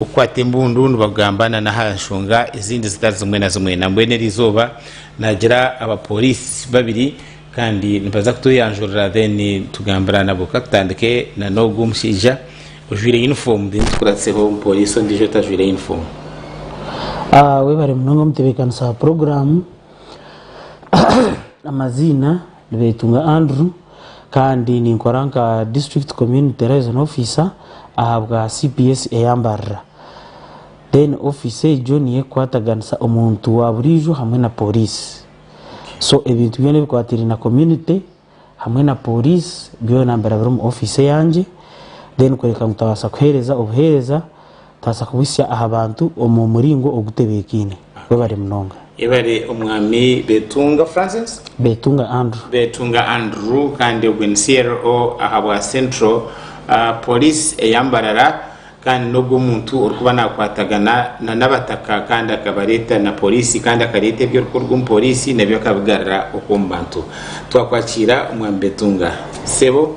okukwata embundu nibagamba nana aha nshonga ezindi zitari zimwe na zimwe nambwenu eri izooba nagira abapolisi babiri kandi nibaza kutweyanjurira then tugambira nabo katutandike nana ogu omushaija ojwaire uniform then tukuratseho omupolisi ondiijo otajwaire uniform Webare munonga omutebekanisa wa puroguramu amaziina Beitu nka Andrew kandi ninkora nka District Community Liaison Officer ahabwa CPS eyambarira. Then office egyo niyo ekukwataganisa omuntu wa buriijo hamwe na Police. So ebintu byona ebikwataine na community hamwe na Police byona mbera biri omu office eyangye then kureka ngu tutabaasa kuheereza obuheereza Tubaasa kubuhitsya aha bantu omu muringo ogutebeekaine. Webare munonga. Yebare omwami Betunga Francis. Betunga Andrew. Betunga Andrew kandi ogwe ni CRO ahabwa Central Police eya Mbarara kandi n'ogwe omuntu orikuba nakwatagana na n'abataka kandi akabareeta na Police kandi akareeta ebi orikuruga omu Police n'ebi akabigarira oku omu bantu. Twakwakiira omwami Betunga. Sebo.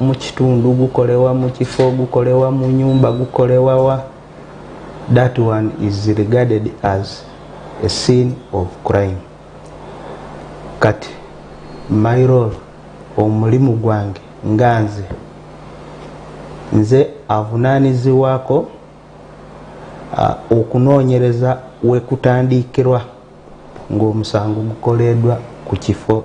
Mu kitundu gukore wa mu kifo gukore wa mu nyumba gukore wa wa that one is regarded as a sin of crime kati my role omu murimu gwange nga nze nze avunanizibwako okunonyereza we kutandikirwa ngu omusango gukoredwa ku kifo.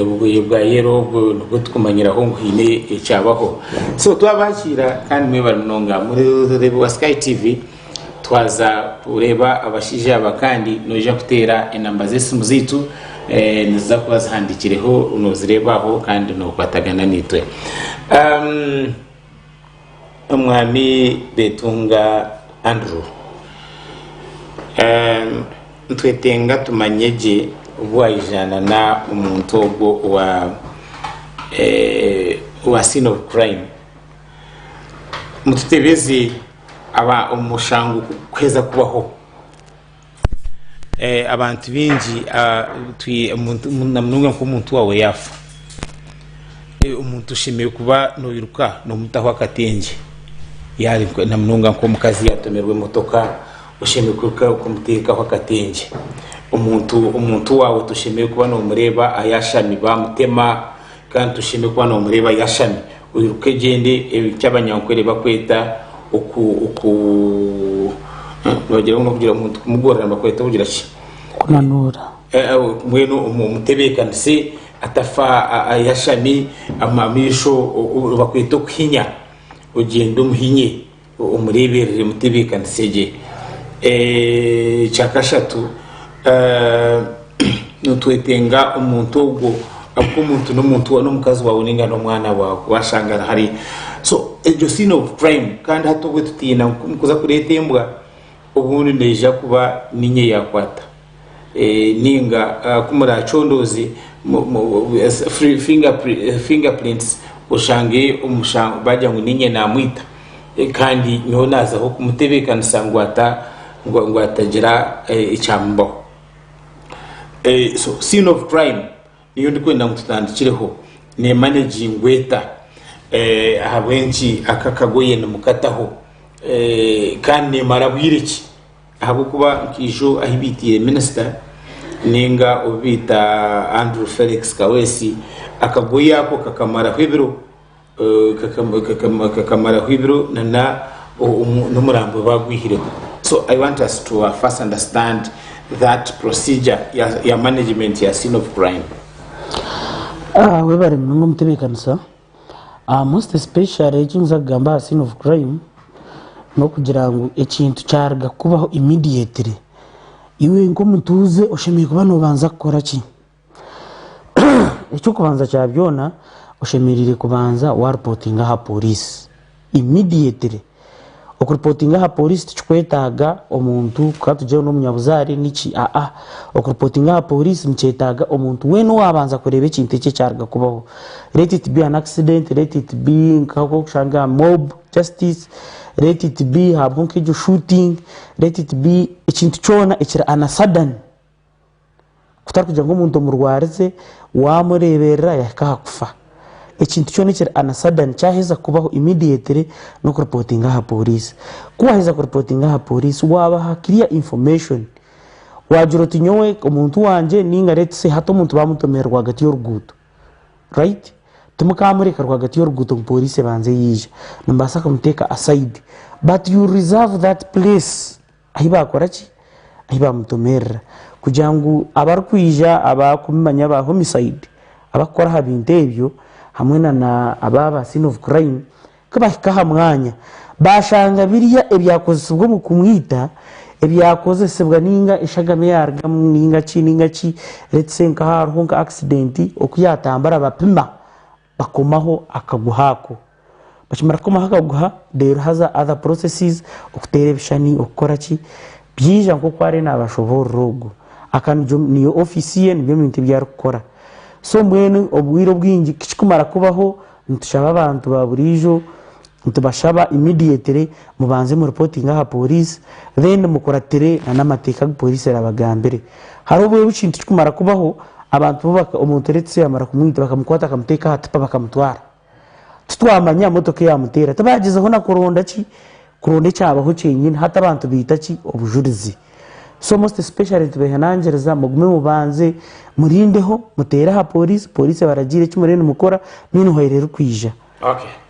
Obugoye bwa yero obwo nibwo tukumanyiraho ngu haine ekyabaho. So twabakiira kandi mwebare munonga. Mureebi wa Sky TV twaza kureeba abashaija aba kandi noija kuteera enamba z'esimu zaitu eh, niziza kuba zihandiikireho noozireeba aho kandi nookwatagana naitwe. Um, Omwami Betunga Andrew, Nitwetenga tumanye gye obu waijanana omuntu ogwo owa scene of crime, mututebeze omushango kuheza kubaho. Eh, abantu bingi ah, twi- omuntu- mu- na munonga nk'omuntu wawe yafa Eh, omuntu oshemereire kuba noiruka nomutaho akatengye yaari nko- na munonga nk'omukazi yatomerwa emotoka oshemereire kwiruka kumuteekaho akatengye omuntu omuntu waawe toshemereire kuba nomureeba ayashami bamutema Kandi tusheeme kuba nomureeba yashami oyiruke egyende eki abanyankwere bakweta oku oku nibagira ngu nokugira omuntu kumugorora nibakweta kugira ki kunanuura mbwenu omutebekanise atafa yashami amaisho nibakweta okuhinya ogyende omuhinye Omureeberere emitebeekanise gye. Ekya kashatu, nitwetenga omuntu ogwo ahabw'okuba omuntu n'omuntu wa- n'omukazi waawe ninga n'omwana waawe washanga ari hare so egyo scene of crime kandi hati obwe tutiina nku- kuza kureeta embwa obundi neija kuba niinye yaakwata. ninga ku muracondooze finger prints oshange omushango bagira ngu ninye namwita kandi nyowe nazaho kumutebekanisa ngu atagira ekyamubaho. Scene of crime niyo ndikwenda ngu tutandikireho nemanagingwa eta ahabw'enki aka akagoye nimukataho kandi nemara bwire ki? Ahabw'okuba nkaijo ahi baitaire minisita ninga obu baita Andrew Felix Kaweesi, akagoye ako kakamaraho ebiro, kakamaraho ebiro nana n'omurambo baagwihireho. So I want us to first understand that procedure ya management ya scene of crime. Webare munonga omutebekanisa. Aha most especially eki ninza kugamba aha scene of crime n'okugira ngu ekintu kyaruga kukubaho immediately, iwe nk'omutuuze oshemereire kuba noobanza kukora ki? Eky'okubanza kya byona oshemereire kubanza waarupotinga aha pooriisi. Immediately. Okuripotinga aha polisi tikikwetaaga omuntu kuha tugyeho n'omunyabuzaare niki aa. Okuripotinga aha polisi nikyetaaga omuntu weena owaabanza kureeba ekintu eki ekyaruga kubaho. Let it be an accident, let it be nk'oku orikushanga mob justice, let it be haabaho nk'egyo shooting, let it be ekintu kyona ekiri an a sudden. kutari kugira ngu omuntu omurwarize wamureeberera yahika aha kufa. Ekintu kyona ekiri anasadani kyaheza kubaho immediately n'okuripotinga aha pooriisi. Ku waaheza kuripotinga aha pooriisi waabaha clear information. Waagira oti nyowe omuntu wangye nainga let say hati omuntu baamutomire rwagati y'oruguuto right? Timukaamureka rwagati y'oruguuto ngu pooriisi ebanze yaija. Nimubaasa kumuteeka aside but you reserve that place. Ahi baakora ki? Ahi baamutomerera. Kugira ngu abarikwija aba kumi manya aba homicide abakukora aha bintu ebyo hamwe na na aba ba scene of crime ku bahika aha mwanya baashanga birya ebyakozesibwa omu kumwita ebyakozesibwa ninga eshagama eyaarugamu ninga ki ninga ki let's say nk'ahaaba hariho nka accident oku yaatambura bapima Bakomaho akaguha ako. Bakimara kukomaho akaguha, reero haza other processes, okuteera ebishushani, okukora ki, byaija nk'oku ariyo naabashoboorora ogwo. Aka nigwo niyo ofiisi ye, nibyo bintu ebi arikukora. So mbwenu obwire obwingi ku kikumara kubaho, nitushaba abantu baaburiijo Nitubashaba immediately mubanze mu reportinge aha police then mukuratire na namateeka agu police erabagambire. Hariho obwire obukintu kikumara kubaho abantu bo omuntu let's say yamara kumwita bakamukwata bakamuteeka aha tipa bakamutwara titwamanya motoka eyamuteera tibagyezaho na kuronda ki kuronda ekyabaho kyenyini hati abantu baita ki obujurizi so most especially nitubehanangiriza mugume mubanze murindeho muteere aha police police ebaragiire eki muriyo nimukora meanwhile erikwija. Okay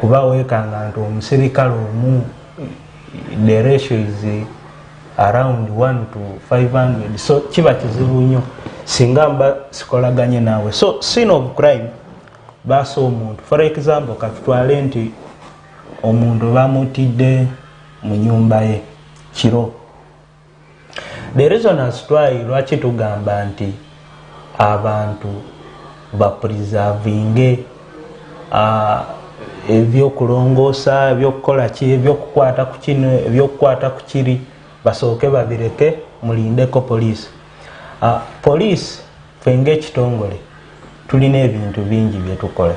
kuba wekanga nti omuserikare omu the ratio is around 1 to 500 so kiba kizibu nyo singa mba sikolaganye nawe so scene of crime basa omuntu for example katutware nti omuntu bamutide munyumba ye kiro The reasoners try lwaki tugamba nti abantu ba purizavinge eby'okurongoosa, eby'okukora ki, eby'okukwata ku kinu, eby'okukwata ku kiri, basooke babireke murinde ko poriisi. Poriisi itwe nk'ekitongore twine ebintu bingi ebi turikukora.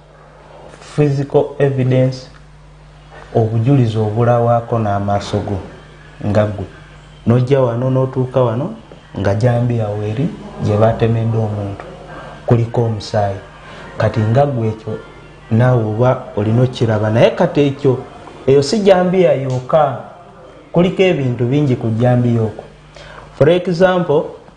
Physical evidence, obujurizi obu orawaako n'amaaso go nga gwe noija wano notuuka wano nga jambi yaawe eri gye batemedde omuntu kurika omusaayi kati nga gwe ekyo naawe oba ori nokukiraba naye kati ekyo eyo si jambiya yoka kurika ebintu bingi ku jambiya oku for example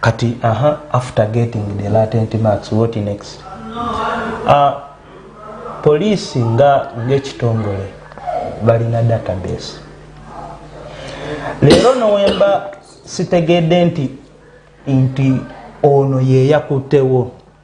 Kati aha after getting the latent marks what next? Ahh police nga ekitongore balina data base rero nowemba sitegede nti nti ono yeyakute wo.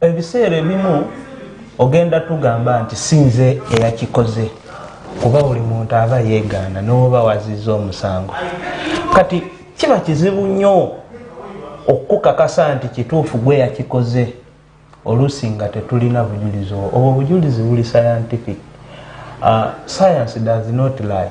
Ebiseera ebimu ogenda tugamba nti sinze eyakikoze kuba buri muntu aba ayegaana noba waziiza omusango. Kati kiba kizibu nyo okukukakasa nti kituufu gwe eyakikoze oluusi nga tetulina bujurizi obwo. Obwo bujurizi buri scientific. Science does not lie.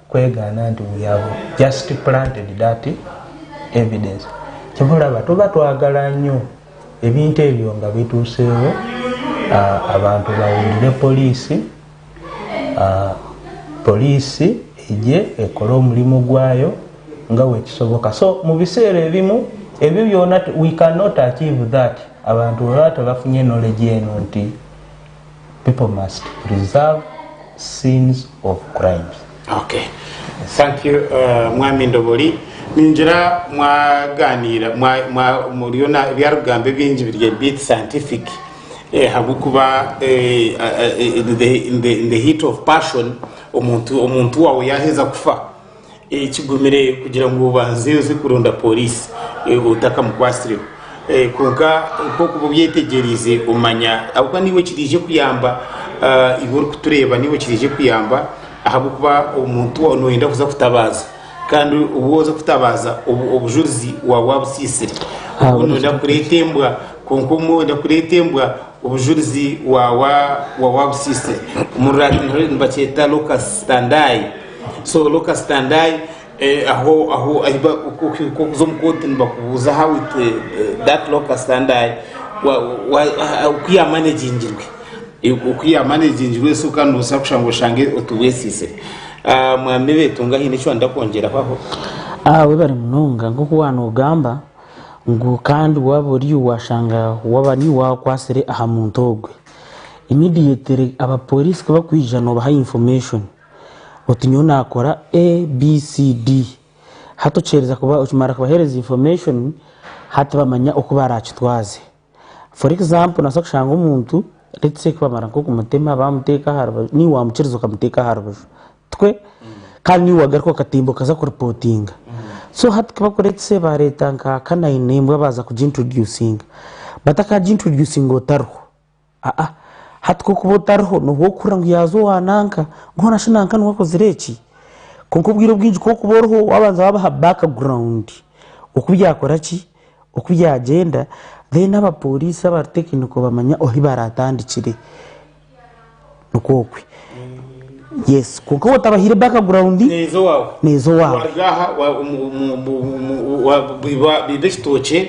kwegaana nti we have just planted that evidence kyonka orareba toba twagara nyo ebintu ebyo nga bituseeho abantu bahurire polisi polisi egye ekore omurimo gwayo nga bwekisoboka so mubiseera ebimu ebyo byoona we can not achieve that abantu baba tibafunye knowledge eno nti People must preserve scenes of crimes. Okay. Thank you uh, Mwami Ndobori. Ningira mwaganiira mwa- mwa- muriyo na ebyarugambo ebingi biri a bit scientific eh, habwokuba eh, eh, eh, in the- in the- in the heat of passion omuntu omuntu wawe yaheza kufa Kigumire kugira ngu obanze oze kuronda pooriisi otakamukwatsireho. Kwonka nk'oku oba obyetegyeriize omanya ahabw'okuba naiwe kiraije kukuyamba iwe orikutureeba naiwe kiraije kukuyamba ahabw'okuba omuntu ou nooyenda kuza kutabaaza kandi ou waaza kutabaaza obujurizi waaba waabutsiitsire. Obwo nooyenda kureeta embwa kwonka omwe oyenda kureeta embwa obujurizi waaba waabutsiitsire. Omu Ruraara nibakyeta locus standi. So Luka Standai eh, aho aho ahiba kokuza omu kooti nibakubuuza how it eh, that Luka Standai okuyamanagingirwe okuyamanagingirwe so kandi nobusa kushanga oshange otubwesiise ah, mwami betunga haine eki wanda kwongyeraho aho ah, webare munonga nkoku wanogamba ngu kandi waba ori washanga waba ni wakwasire aha muntu ogwe immediately abapolisi kubakwija nobaha information oti nyowe nakora A, B, C, D. Hati okiheriza kuba, okimara kubahereza information, hati bamanya oku barakitwaze. For example nobaasa kushanga omuntu, let's say kubamara nkokumutema, bamuteka aharubaju, niiwe wamukiriza okamuteka aharubaju, tikwe? Kandi niiwe wagaruka okatimba okaza ku reportinga. So hati ku baku let's say bareeta nka canine embwa baza kugi introducinga, bataka gi introducinga otariho. Aa, hati ku okuba otariho nooba orikuhurira ngu yaaza owa nanka, mbwenu shi nanka niwe akozire eki? Kwonka obwire obwingi ku orikuba oriho waabanza waabaha background oku byakora ki, oku byagyenda then abapooriisi abari tekiniko bamanya ohi baraatandikire. Nikwo okwe. Yes. Kwonka waaba otabahaire background, neeza owaawe neeza owaawe. waaruga aha wa- omu- omu- omu- omu- wa- biba biba ekitookye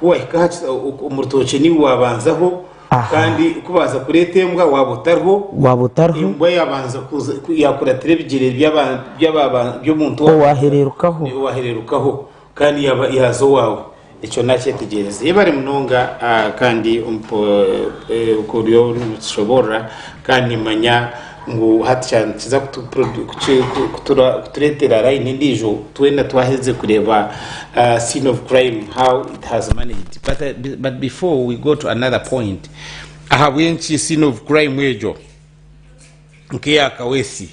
ku wahika aha ki- o- omu rutookye niiwe waabanzaho Aha. kandi kubanza kureeta embwa waaba otariho Waaba otariho, embwa yaabanza kuza ku- yaakuratira ebigyere by'aba- by'aba- by'omuntu owa- owahereerukaho. owahereerukaho Kandi yaba yaaza owaawe, ekyo naakyetegyereza. Yebare munonga ah, kandi omp- eh, ku oryo nikishoboorora kandi nimanya ngu hati kya- nikiza kutu- produ- kuki- ku- kutura- kutureetera layini endiijo twena twaherize kureeba ah, scene of crime how it has managed but, ah, but before we go to another point ahabw'enki scene of crime egyo nk'eya Kawesi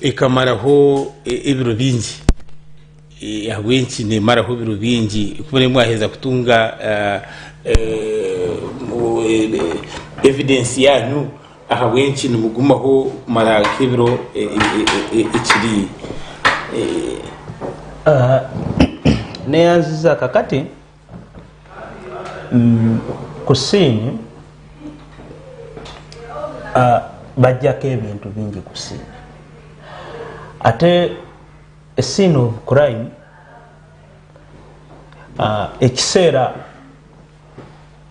ekamaraho e- ebiro bingi Eh, ahabw'enki nemaraho ebiro bingi kuba nimwe mwaheza kutunga eh, eh, mu- eh, eh, evidence yanyu ahabw'enki nimugumaho kumara nk'ebiro eh, eh, eh, eh, ekiri eh, Aha. neyanziza kakati Kusiimwa, bagyako ebintu bingi kusiimwa. Ate esiini obu kurayimu, ekiseera.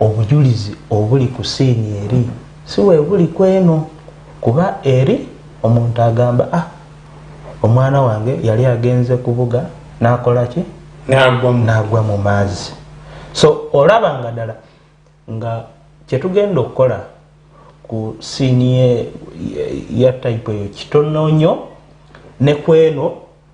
obujurizi oburi kusiini eri si bwe buri kweno. Kuba eri omuntu agamba ah omwana wange yari agenze kubuga nakora ki nagwa mu maazi so oraba nga dala nga kyetugenda okukora ku siini ya type eyo kitono nyo ne kweno.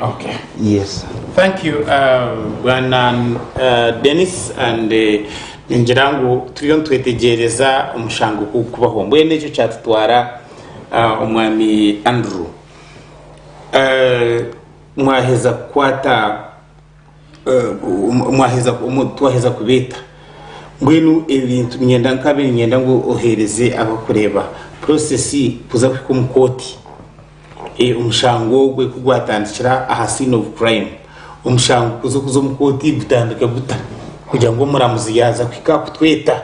Okay. Yes. Thank you uh, bwana uh, Dennis and uh, ningira ngu turiyo nitwetegereza omushango ku kubaho mbwenu ekyo kyatutwara uh, omwami Andrew uh, mwaheza kukwata eh, um- mwaheza um- twaheza kubeeta mbwenu ebintu ninyenda nkabe ninyenda ngu oheereze abakureeba purosesi kuza kuhika omu kooti Eh, omushango ogwe ku gwatandikira aha scene of crime omushango kuza kuza omu kooti gutandika guta kugira ngu omuramuzi yaaza kuhika kutweta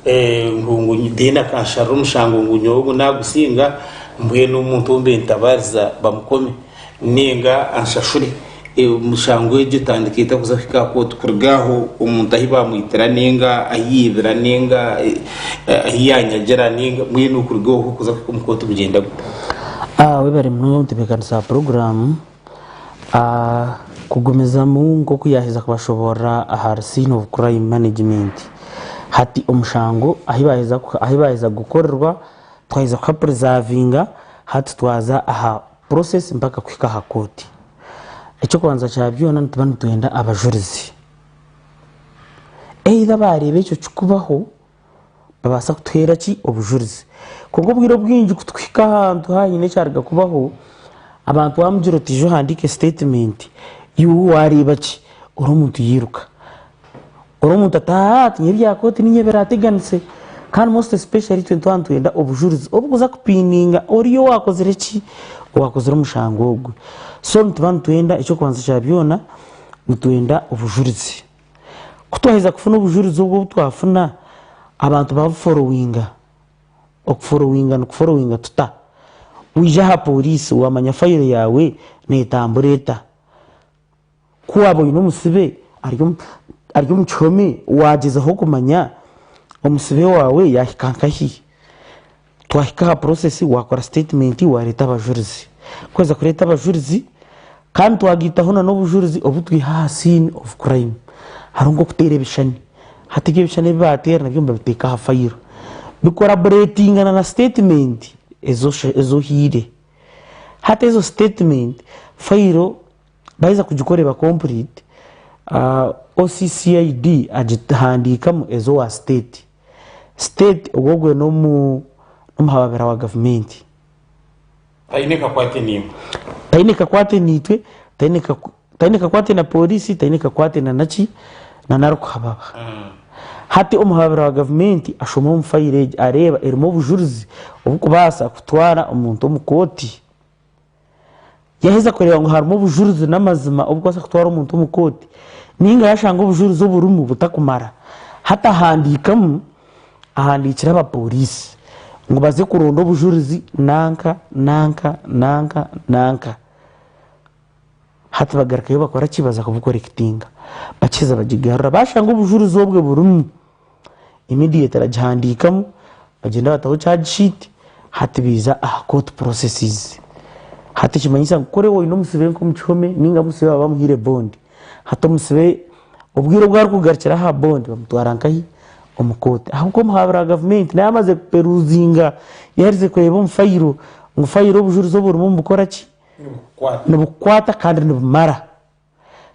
ngu Dean akansharira omushango ngu nyowe ogu nagusinga mbwenu omuntu ou mbe ntabariza bamukome ninga anshashure omushango egyo etandika eta kuza kuhika aha kooti kuruga aho omuntu ahu bamwitira ninga ahu yaibira ninga ahu yanyagira ninga mbwenu kuruga oho kuza kuhika omu kooti gugyenda guta? Webare munonga kutebeekanisa puroguraamu. Kugumizamu nk'oku yaaheza kubashoboorora ahari Scene of Crime Management. Hati omushango ahu baaheza kugukorerwa twaheza kuha purizavinga hati twaza aha purosesi mpaka kuhika aha kooti. Eky'okubanza kya byona nituba nitwenda abajurizi. Either baareeba ekyo kikubaho nibabaasa kutuheera ki? Obujurizi. Kwonka obwire obwingi ku tuhika ahantu haine ekyaruga kubaho, abantu waamugira oti ija ohandiike sitetimenti, iwe waareeba ki? Ori omuntu yairuka. Ori omuntu ati aaha tiinyine bya kooti niinye biraateganise. Kandi most especially itwe nituba nitwenda obujurizi obukuza kupininga oriya owaakozire ki? Owaakozire omushango ogwe. So nituba nitwenda eky'okubanza kya byona, nitwenda obujurizi. Ku twaheza kufuna obujurizi obwo obu twafuna, abantu babuforowinga. Okuforowinga nikuforowinga tuta? Waija aha pooriisi waamanya fayiro yaawe neetambura eta. Ku waaba oine omusibe ari omu kihome, waagyezaho kumanya omusibe waawe yaahika nkahi. Twahika aha process wakora statement wareta abajurizi kwaheza kureta abajurizi kandi twagitaho na n'obujurizi obutwiha aha scene of crime hariho nk'okutera ebishani hati ebyo ebishani ebibatera nabyo nibabiteka aha fayiro bikoraboretingana na statement ezi ohiire hati ezo statement fayiro baheza kugikora eba complete OCCID agihandikamu ezi owa state. State ogwo ogwe n'omuhababira wa gavumenti. Taine kakwate niimwe. Taine kakwate naitwe, taine kakwate na pooriisi, taine kakwate na naki, na narikuhababa. Hati omuhababira wa gavumenti ashoma omu fayiro egi areeba erimu obujurizi obukubaasa kutwara omuntu omu kooti. Yaaheza kureeba ngu harimu obujurizi n'amazima obukubaasa kutwara omuntu omu kooti, nainga yaashanga obujurizi oburimu butakumara, hati ahandiikamu ahandiikira abapooriisi ngu baze kuronda obujurizi nanka nanka nanka nanka. Hati bagarukayo bakora ki? Baza kubukorekitinga. Bakiheza bagigarura baashanga obujurizi obwe burimu. immediate aragihandikamu bagyenda bataho charge sheet hati biza aha court processes hati ekimanyisa ngu kuri oyine omusibe nka omukihome ninga omusibe waba amuhaire bond hati omusibe obwire obu arikugarukira aha bond bamutwara nkahi omu court aho nka omuhabuzi wa gavumenti naba amaze kuperuzinga yaherize kureba omu fayiro ngu fayiro obujurizi oburimu nibukoraki nibukwata kandi nibumara.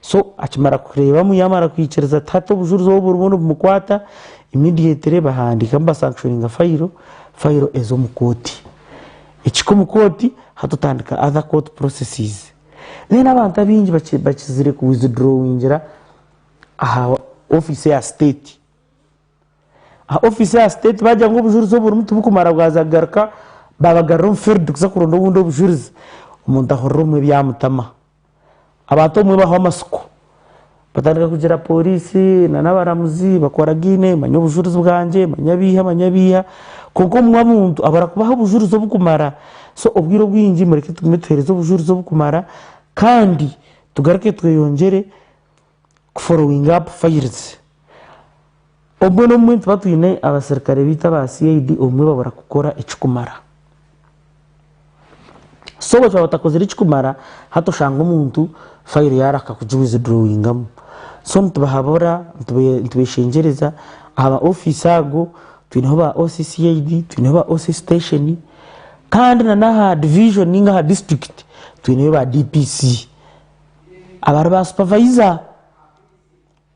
So akimara kureebamu yaamara kwikiriza ati hati obujurizi obu burimu nibumukwata, immediately bahandiika ngu basankishoninga fayiro, fayiro eza omu kooti. Ekihika omu kooti, hati tutandika other court processes. Then abantu abaingi baki bakizire ku withdrawingira aha ofiisi ya state. Aha ofiisi ya state baagira ngu obujurizi obu burimu tibukumara bwaza kugaruka, baabagarura omu field kuza kuronda obundi obujurizi, omuntu ahurira omwe byamutama. Abantu abamwe bahwa amatsiko, batandika kugira pooriisi nari abaramuzi bakoragaine, manya obujurizi bwangye, manya abeiha, manya abeiha. Kwonka obumwe omuntu abura kubaha obujurizi oburikumara. So obwire obwingi mureke tugume tuheereze obujurizi oburikumara kandi tugaruke tweyongyere. kuforowinga apu fayirizi. Obumwe n'obumwe nituba twine abaserukare baitu aba CID obumwe babura kukora ekirikumara. So obu baaba batakozire ekirikumara, hati oshanga omuntu fayiro yaaba arikuhaka kugi wizidurowingamu. So nitubahabura, nitubeshengyereza aha ba ofiisi ago, twineho ba OC CID, twineho ba OC siteeshoni, kandi n'aha divijoni nainga aha disiturikiti twineyo ba DPC. Abari ba supavayiza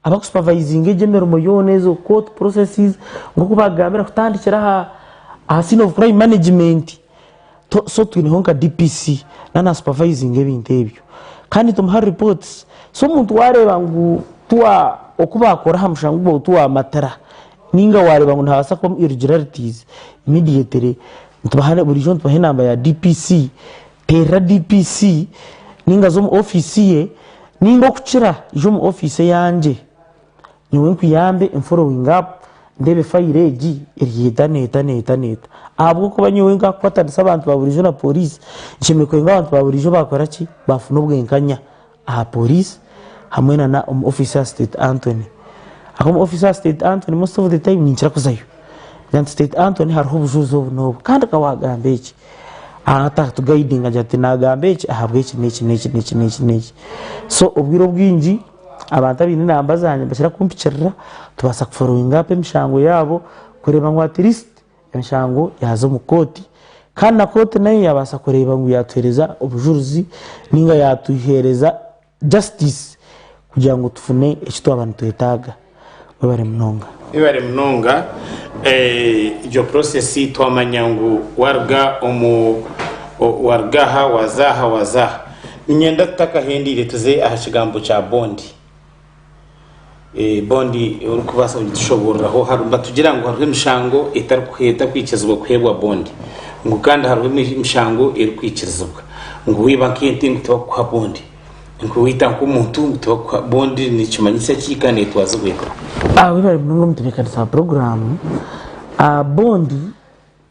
abakusupavayizinga egyo emirimo yoona ezo kooti purosesi nk'oku baakugambira kutandikira aha siini ofu purayimu manegimenti so twineho nka dipisi naaba naasupavayizinga ebintu ebyo kandi tumuha ripooti so omuntu waareeba ngu oku baakora aha mushango ogwo tiwaamatira nainga waareeba ngu nihabaasa kubamu irugilaritiizi imidiyetere buriijo nitubaha enamba ya dipisi Teerera DPC ninga za omu ofiisi ye ninga okukira ija omu ofiisi eyangye nyowe nkuyambe nforowinge apu ndeebe fayiro egi eri haihi neeta neeta neeta ahabw'okuba nyowe nkakukwatanisa abantu ba buriijo na pooriisi nshemereire kugira ngu abantu ba buriijo baakora ki baafuna obwenkanya. aha poriisi hamwe na na omu ofiisi ya siteeti Antony ahu omu ofiisi ya siteeti Antony most of the time ninkira kuzayo kugira nti siteeti Antony hariho obujuuzi obu n'obu kandi ka waagamba eki aha taatugayidinga agira ati naagamba eki ahabw'eki n'eki n'eki n'eki n'eki n'eki so obwire obwingi abantu abaine enamba zaangye nibakira kumpikirira tubaasa kuforowinga apa emishango yaabo kureeba ngu atirisiti Enshango yaaza omu kooti kandi na kooti nayo yaabaasa kureeba ngu yaatuheereza obujurizi nainga yaatuheereza justice kugira ngu tufune eki twaba nitwetaaga. Mwebare munonga. Mwebare munonga egyo process twamanya ngu waruga omu waruga aha waza aha waza aha ninyenda tutakahendiire tuze aha kigambo kya bond Bondi orikubaasa kugitushobooreraho? Nibatugira ngu hariho emishango etarikwikirizibwa kuheebwa bondi, ngu kandi hariho emishango erikwikirizibwa. Ngu waiba nk'ente ngu tibarikukuha bondi, ngu waita nk'omuntu ngu tibarikukuha bondi. Nikimanyisa ki kandi neetwazibwa eta? Waibaire munonga omu ntebeekanisa ya puroguraamu, bondi.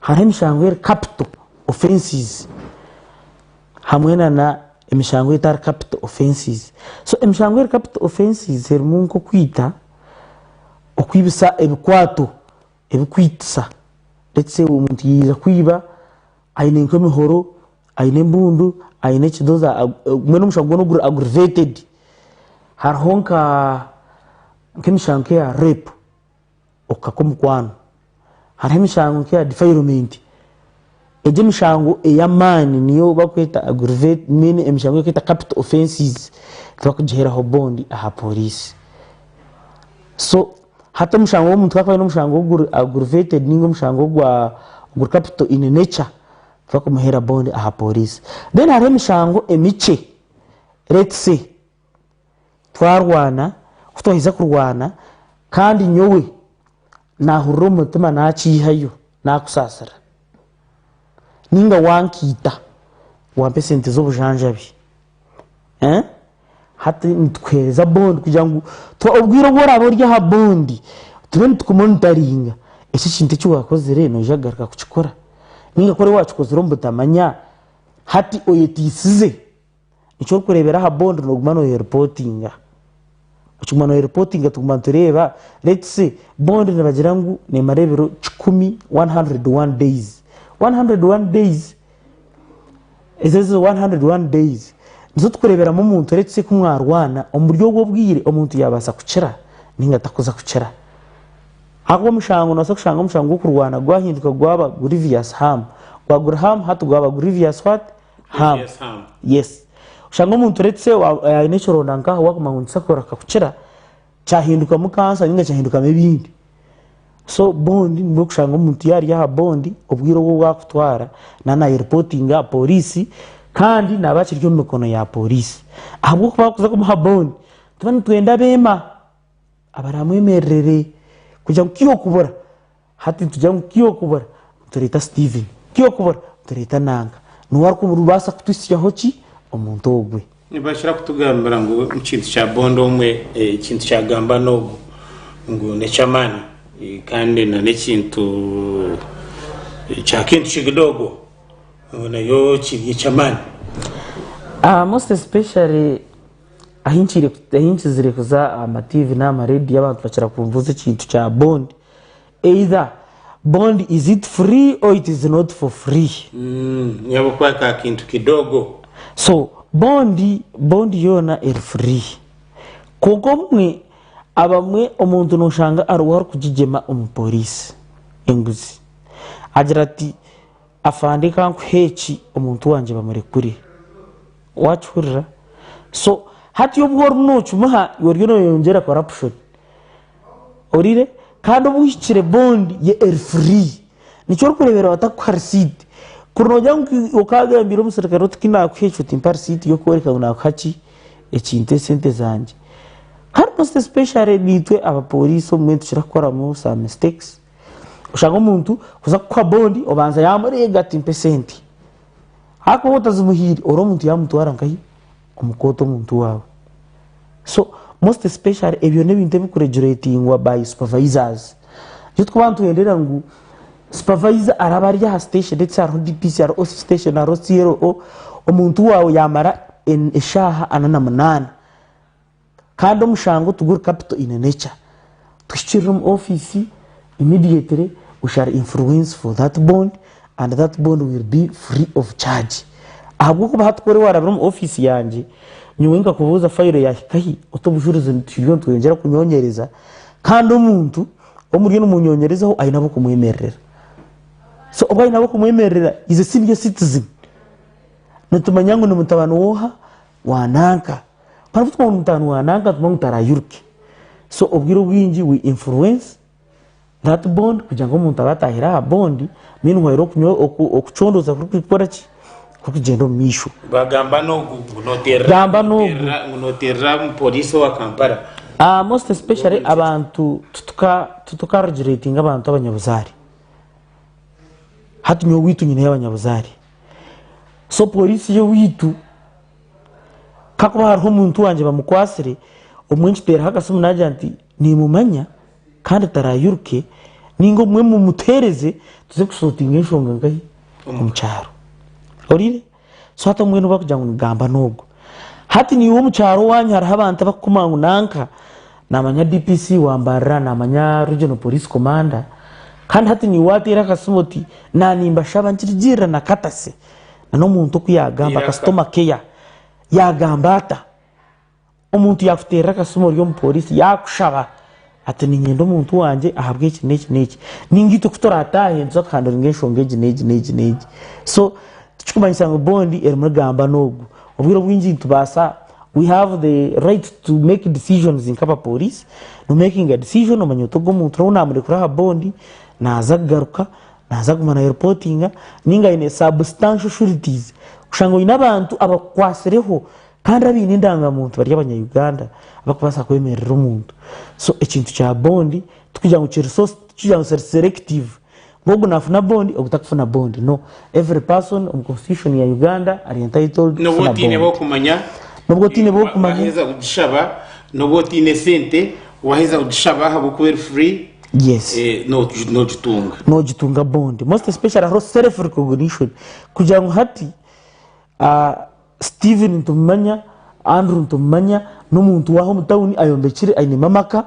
Hariho emishango eri kapito, ofensizi, hamwe n'emishango etari kapito, ofensizi. So emishango eri kapito, ofensizi, erimu nk'okwita, okwibisa ebikwato ebirikwitisa. Lets say omuntu yaija kwiba aine nk'emihoro, aine embundu, aine ekidoza, mbwenu omushango gwona guri aggravated. Hariho nk'emishango nk'eya repu. okukaka omukwano. Hariho emishango nk'eya defilement. Egi emishango ey'amaani niyo barikweta aggravated, mbwenu emishango ei barikweta capital offences tibarikugiheeraho bond aha pooriisi. So hati omushango gw'omuntu ku arikuba aine omushango oguri aggravated nainga omushango ogwa oguri capital in nature, tibakumuheera bond aha pooriisi. Then hariho emishango emikye, let's say. Twarwana, ku twaheza kurwana kandi nyowe naahurira omu mutima naakyihayo naakusaasira nainga wankaita wampa esente z'obujanjabi. Hati nitukuheereza bondi kugira ngu obwire obu oraabe ori aha bondi tube nitukumonitaringa. Eki ekintu eki waakozire noija kugaruka kukikora? Nainga ku waba waakikozire omu butamanya hati oyeteisize? Eki orikureebera aha bondi nooguma nooyeripotinga. Okiguma nooyeripotinga tuguma nitureeba lets say bondi nibagira ngu neemara ebiro kikumi, one hundred and one days. One hundred and one days, ezo zo one hundred and one days nizo turikureeberamu omuntu lets say ku mwarwana omuri obwo obwire omuntu yaabaasa kukira nainga tarikuza kukira. Ahabw'okuba omushango noobaasa kushanga omushango gw'okurwana gwahinduka gwaba grievous harm. Gwaba guri harm hati gwaba grievous what? Ham. Yes, Ham. Yes. Oshanga omuntu let's say wa- eh, aine ekironda nkaha waguma ngu nitusa kuraka kukira kyahindukamu kansa ninga kyahindukamu ebindi so bond nibwo kushanga omuntu yari aha bond obwire obu obwakutwara na nayerepotinga aha polisi kandi naba akiri omu mikono ya polisi ahabw'okuba akuza kumuha bond tuba nitwenda abema abaramwemererere kugira ngu kihokubura Hati nitugira ngu tiyokubura, nitureeta Steven. Tiyokubura, nitureeta Nanka. Niwe arikubaasa kutwitsyaho ki? Omuntu ogwe. Nibakira kutugambira ngu ekintu kya bonda omwe, ekintu kyagamba n'ogu ngu n'eky'amaani, kandi na n'ekintu kya kintu kigidogo ngu nayo kiri eky'amaani. Aha most especially ahi nkire, ahi nkizire kuza aha ma TV n'aha ma radio abantu bakira kumbuuza ekintu kya bond. either bond is it free or it is not for free nyabukuba ka kintu kidogo so bond bond yoona eri free kwonka obumwe abamwe omuntu noshanga ariwe arikugigyema omu police enguzi agira ati afande kankuhe eki omuntu wangye bamurekure wakihurira so hati obu orimu nokimuha oriyo noyeyongyera corruption Owulire? Kandi obu ohikire bond ye eri free. Nikyo orikureeberaho atakuha receipt. Kuri nogira ngu okagambira omuserukare oti kinakuha eki otimpa receipt yokworeka ngu nakuha ki, ekintu eki sente zangye. Kandi most especially niitwe aba police obumwe nitukira kukoramu some mistakes. Oshanga omuntu kuza kukuha bond obanza yamureega ati mpa esente. Hakuba otazimuhiire ori omuntu yamutwara nkahi? Omukoota omuntu waawe so most especially ebyo n'ebintu ebikuregulatingwa by supervisors nikyo twaba nituhenderera ngu supervisor araba ari aha station let's say hariho DPC hariho OC station hariho CLO omuntu waawe yamara eshaaha ana na munaana Kandi omushango tiguri kapito ine nekya tuhikirira omu office immediately we shall influence for that bond and that bond will be free of charge ahabwokuba hati kworaba warabire omu office yangye nyowe nkakubuuza fayiro yahikahi ote obujurizi nitwiija nitweyongyera kunyonyereza kandi omuntu omuriyo nimunyonyerezaho ayine abokumuyemererera so obu ayine abokumuyemererera is a senior citizen nitumanya ngu nimutabani woha wa nanka. Barabutuma ngu mutaano wa nanka atuma ngu tarayiruke. So obwire obwingi we influence that bond kugira ngu omuntu abe atahire aha bond meanwhile okunywa oku- okucondoza kuri kukora ki kuri kugyenda omu maisho. Bagamba n'ogu ngu noterera Gamba ngu n'ogu. noterera- ngu noterera omu poliisi owa Kampala. Ah, most especially abantu tutuka tutuka regulatinga abantu abanyabuzaare. Hati nyowe owaitu nyineyo abanyabuzaare. So poliisi y'owaitu. Kakuba hariho omuntu wangye bamukwatsire obumwe nkiteeraho akasimu naagira nti nimumanya kandi tarairuke ninga obumwe mumuteereze tuze kusotinga enshonga nkahi omu kyaro orire so hati obumwe nobu arikugira ngu nigamba n'ogu hati niiwe omu kyaro owanyu hariho abantu abarikukuma ngu nanka namanya DPC wa Mbarara namanya Regional Police Commander kandi hati niiwe wateera akasimu oti na nimbashaba nkirigirira na Katase n'omuntu oku yaagamba customer care yaagamba ata? Omuntu yaakuteerera akasimu ori omu pooriisi yaakushaba ati niinyenda omuntu wangye ahabw'eki n'eki n'eki. Nainga itwe ku turaataahe nituza kuhanduringa enshonga egi n'egi n'egi n'egi. So tikirikumanyisa ngu bond erimu egamba n'ogu. Obwire obwingi nitubaasa, we have the right to make decisions nk'abapooriisi, nomekinga decision omanya oti ogu omuntu n'obu naamurekura aha bond naaza kugaruka Naaza kuguma na reportinga ninga aine substantial sureties kushanga oine abantu abakukwatsireho kandi abaine endangamuntu bari abanya Uganda abakubaasa kwemerera omuntu so ekintu kya bond tikugira ngu kiri so tikugira ngu kiri selective ngu ogu nafuna bond ogu takufuna bond no every person omu constitution ya Uganda ari entitled Nobu kufuna otiine bond b'okumanya, nobwo otiine wa- b'okumanya waheza kugishaba, nobu otiine sente waheza kugishaba ahabw'okuba eri free. Yes. Eh, nogi- nogitunga nogitunga bond most especially hariho self recognition kugira ngu hati ah, steven nitumumanya andrew nitumumanya n'omuntu waha omu tawuni ayombekire ainemu amaka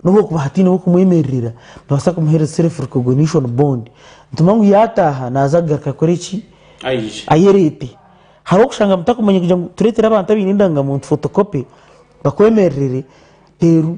nobu okuba hataineho okumwemererera nobaasa kumuhereza self recognition bond nitumanya ngu yataaha naaza kugaruka kukora eki aije ayereete hariho okushanga mutakumanya kugira ngu tureetere abantu abaine endangamuntu photocopy bakwemererere reero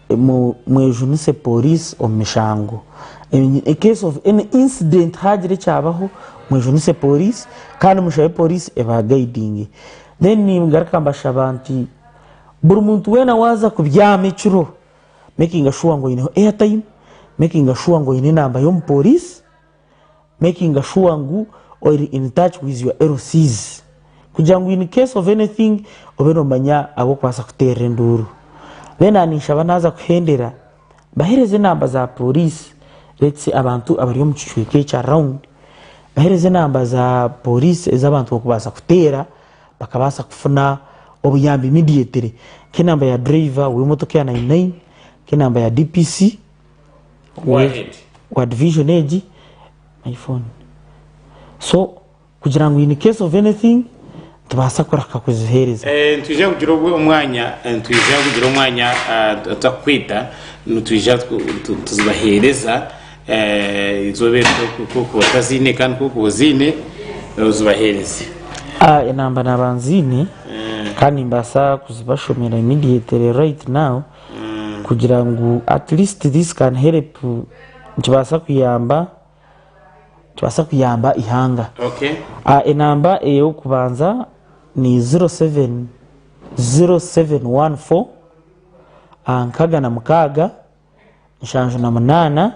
Mwejunise pooriisi omu mishango. In case of any incident haagira ekyabaho, mwejunise pooriisi kandi mushabe pooriisi ebagaidinge. Then ningaruka mbashaba nti buri muntu weena waaza kubyama ekiro, mekinga shuwa ngu oineho airtime, mekinga shuwa ngu oine enamba y'omupooriisi. making sure ngu oyiri in touch with your LCs kugira ngu in case of anything obe nomanya abu okubaasa kuteerera enduuru. Then aha ninshaba naaza kuhendera mbahereze enamba za pooriisi let's say abantu abari omu kicweka ekyo around mbahereze enamba za pooriisi ezi abantu barikubaasa kuteera bakabaasa kufuna obuyambi immediately. Nk'enamba ya dureeva w'emotoka eya nayini nayini, nk'enamba ya DPC. Go ahead. wa division egi my phone so kugira ngu in case of anything tubaasa kurahika kuziheereza Eh, nitwija kugira obwo- omwanya eh, nitwija kugira omwanya ah, tutakukwita nitwija tu- tu- tuzibaheereza eh, izooba eri ku- ku- kuba otaziine kandi ku- kuba oziine eh, ozibaheereze Ah, enamba naba nziine kandi nimbaasa kuzibashomera immediately right now kugira ngu at least this can help nikibaasa kuyamba nikibaasa kuyamba eihanga. Enamba ey'okubanza ni ziro seveni ziro seveni wani fo nkaaga na mukaaga nshanju na munaana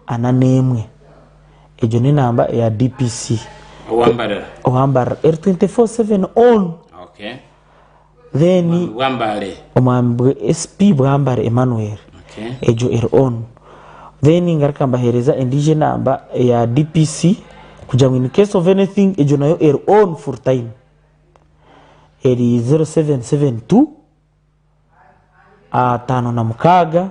ana n'emwe. Egyo n'enamba eya DPC. Owambarira. Owambarira. Eri twenti fo seveni onu. Then omwami SP Bwambare Emmanuel egyo eri on then ngaruka mbahereza endiijo enamba eya DPC kugira ngu incase of anything egyo nayo eri on full time eri 0772 ataano na mukaaga.